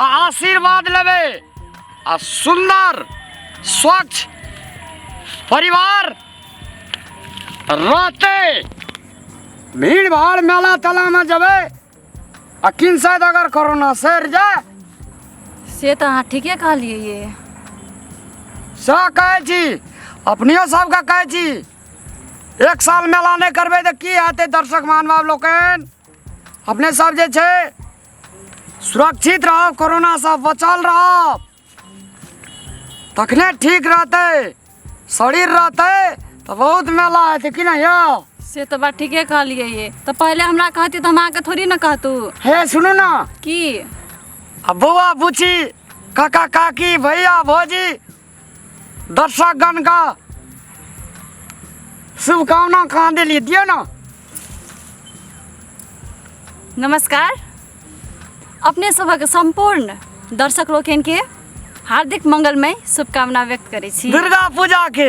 आ आशीर्वाद लेबे आ सुंदर स्वच्छ परिवार रहते भीड़ भाड़ मेला तेला में जबे आ किन शायद अगर कोरोना सर जाए से तऽ अहाँ ठीके कहलियै ये से कहै छी अपनियो सबके कहै छी एक साल मेला नहि करबै तऽ की हेतै दर्शक महानुभाव लोकनि अपने सब जे छै सुरक्षित रहो कोरोना से बचल रहो तखने ठीक रहते शरीर रहते तो बहुत मेला हेतै कि नहीं यौ से तो बात ठीके कहलियै ये तो पहले हमरा कहती तो हम अहाँके थोड़ी ना कहतू हे सुनू ना की आ बौआ बुची काका काकी भैया भौजी दर्शकगण का शुभकामना कहाँ दिली दियो ना नमस्कार अपने सभक सम्पूर्ण दर्शक लोकनि के हार्दिक मंगलमय शुभकामना व्यक्त करै छी दुर्गा पूजा के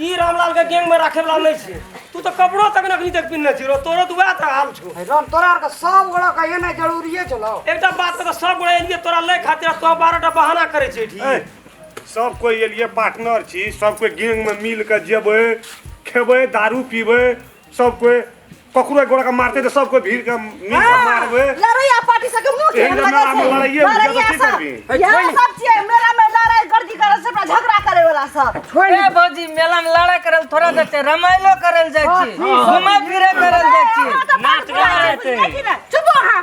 ई रामलाल के गैंग में राखे वाला नहीं छे तू तो कपड़ो तक नकली तक पिन्ने छी रो तोरो तो वैह तरह हाल छो राम तोरा आर के सब गोड़ा का एने जरूरिए छलो एकटा बात तो सब गोड़ा एलिए तोरा ले खातिर तो बारहटा बहाना करे छे ठीक ए, सब कोई ये लिए पार्टनर छी सब कोई गैंग में मिल के जेबे खेबे दारू पीबे सब कोई ककरो एक गोड़ा का मारते तो सब कोई भीड़ का नींद का मारबे लड़ैया पार्टी से के मुंह एहन जमा हम लड़ाइए बुझा तो की करबी ए, यहाँ छोड़। सब चीज है, मेला में लड़ाई गर्दी करे से अपना झगड़ा करे वाला सब छोड़ ए भौजी मेला में लड़ा करल थोड़ा जाए छै रमाइलो करल जाए छी घुमा फिरे करल जाए छी नाच गाना हेतै। चुप हो हाँ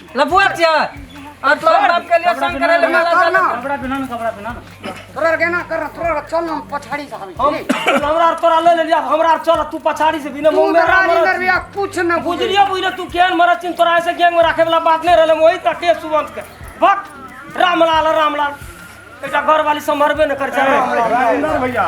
लफुआ छिया और तो बाप के लिए संग करे ले माला चल कपड़ा बिना ना कपड़ा बिना ना तोरा के ना कर तोरा चल हम पछाड़ी से हम हम हमरा और तोरा ले ले लिया हमरा और चल तू पछाड़ी से बिना मुंह में रानी मरत दरबिया कुछ न बुझ बुझलियो बुझले तू केहन मरत चिन तोरा ऐसे गैंग में रखे वाला बात नहीं रहले वही तक के सुवंत के भक्त रामलाल रामलाल एकटा घर वाली संभरबे न कर चाहे राजेंद्र भैया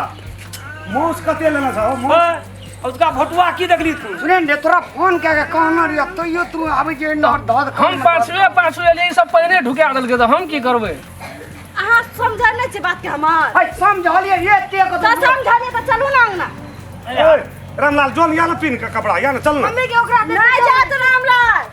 मूस कते लेना चाहो मूस उसका भोटुआ की देखली तू सुने ने तोरा फोन कए के कहना रिया तो यो तू आबै जे नंबर धऽ दे हम पासवे पासवे ले ई सब पहिने ढुका देलकै तऽ हम की करबै अहाँ समझै नहि छियै बातके हमर है समझलिए ये ते को तऽ समझलियै तऽ चलू ने अङ्गना ए, रामलाल जोन या ना पिन का कपड़ा या ना चल ना मम्मीके ओकरा नहि जात रामलाल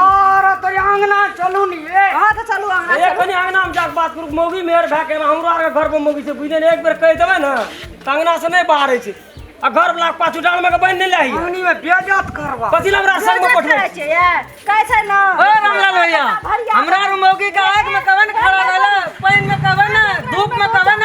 और तोरी अंगना चलू नी ए हां त चलू अंगना ए कनी अंगना में जाक बात करू मौगी मेहर भए के हमरो आर घर पर मौगी से बुझने एक बेर कह देबे ना त अंगना से नहीं बाहर छै आ घर वाला के पाछू डाल में के बन नहीं लाही अंगनी में बेजत करबा पतिला हमरा संग में पठबे छै ए कहै छै ना ओ रामलाल भैया हमरा मौगी का आग में कवन खड़ा रहला पानी में कवन धूप में कवन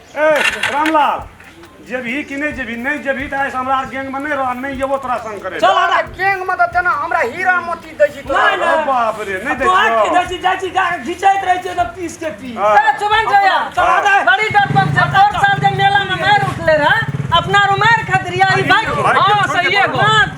ए रामलाल जेबही कि नहि जेबही नहि जेबही तऽ आइसँ हमरा गैंग में नहि रह नहि जेबो तोरा संग करे चल हमरा गैंग में तऽ तेना हमरा हीरा मोती दै छी तोरा अरे बाप रे नहि दै तोहर की दै छी जाइ छी जा घिचैत रहै छै तऽ पीस के पी ए चुबन जया चला दे बड़ी डरपक छै और साल जे मेला में मार उठले रहा अपना रुमार खतरिया ई भाग हां सही है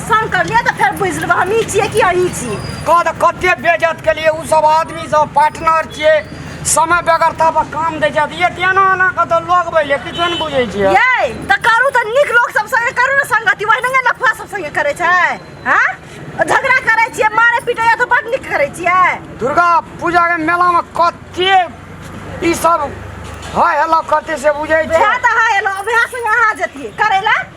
पसन्द करलियै तऽ फेर बुझि लेबै हम ई छियै कि अहीं छी कह तऽ कते बेजत केलिए ओ सब आदमी सब पार्टनर छियै समय बेगर तब काम दै छथि ये तेना एना कऽ तऽ लोग बैले किछो नहि बुझै छियै यै तऽ करू तऽ नीक लोक सब संगे करू ने संगति वही नहि लफुआ सब संगे करै छै हँ झगड़ा करै छियै मारे पीटे या तऽ बड नीक करै छियै दुर्गा पूजा के मेला में कते ई सब है हेलो कते से बुझै छै वएह तऽ है एलो वएह संगे अहाँ जतियै करै लए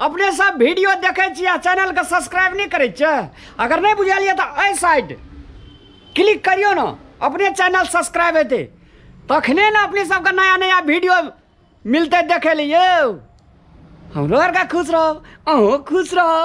अपने सब वीडियो देखे छी आ चैनल के सब्सक्राइब नहीं करे छे अगर नहीं बुझलिए तो ऐ साइड क्लिक करियो ना अपने चैनल सब्सक्राइब हेते तखने ना अपने सबके नया नया वीडियो मिलते देखे लिए हमरो आर का खुश रहो अहूँ खुश रहो